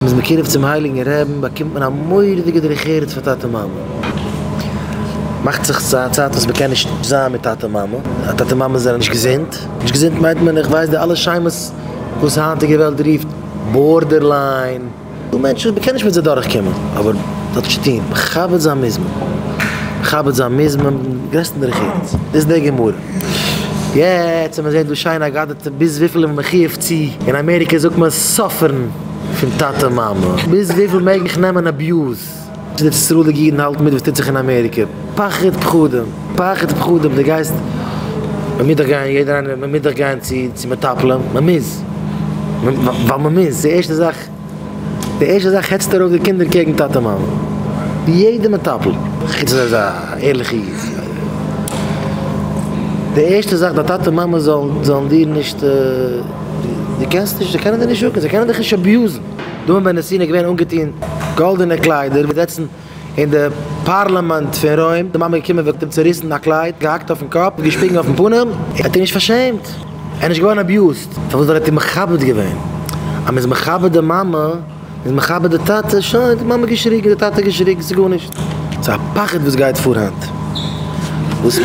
מען איז מקורב צום הייליגן רעבן באקומט מען א מורא'דיגע דרך ארץ פאר טאטע מאמע, מאכט זיך ס'איז א צייט וואס מען קען נישט זיין מיט טאטע מאמע, א טאטע מאמע זענען נישט געזונט, נישט געזונט מיינט מען איך ווייס די אלע שמות וואס היינטיגע וועלט רופט בארדערליין, דא מענטשן וואס מען קען נישט מיט זיי דורך קומען, אבער זאל נישט טון, מכבד זיין מוז מען, מכבד זיין מוז מען מיטן גרעסטן דרך ארץ, דאס איז די גמרא. יעצט ווען מען זעט דא שיין אגדתא ביז וויפיל איז מען מחיוב צו אין אמעריקע זאגט מען סאפערן פון טאטע מאמע ביז וויפיל מעג איך נעמען אביוז צו די ספרדיגע אידן האלטן מיט וואס טוט זיך אין אמעריקע פחד פחדים פחד פחדים די גייסט מען מוז דאך גיין יעדער איינער מען מוז דאך גיין צו מטפלים מען מוז ווייל מען מוז די ערשטע זאך. די ערשטע זאך העצט ער אויף די קינדער קעגן טאטע מאמע, ווי יעדע מטפל, חוץ אז ער איז א ערליכע איד, די ערשטע זאך די טאטע מאמע זאלן דיר נישט, די קענסט נישט, זיי קענען דיר נישט שאטן, זיי קענען דיך נישט אביוזן, דוד בן נסיון איז געווען אנגעטון גאלדענע קליידער, ווי זעצן. אין די פּאַרלאַמענט פון רוים, די מאַמע געקומען, וועגט אים צעריסן א קלייד, געהאַקט אויפן קאָפּ, געשפּיגן אויפן פּנים, ער האָט איר נישט פאַרשעמט, ער איז נישט געוואָרן אַביוזד, פאַרוואָס? ווייל ער האָט איר מכבד געווען. אז מ'איז מכבד די מאַמע, מ'איז מכבד די טאַטע, שוין, די מאַמע האָט געשריגן, די טאַטע האָט געשריגן, ס'איז גאָרנישט. ס'איז א פחד וואָס גייט פאָר היינט, וואָס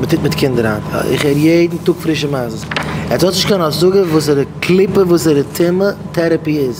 מ'טוט מיט קינדער היינט. איך הער יעדן טאָג פרישע מעשות. עטס האָט נישט קיין השגה וואָסערע קליפה, וואָסערע טומאה טערעפּי איז.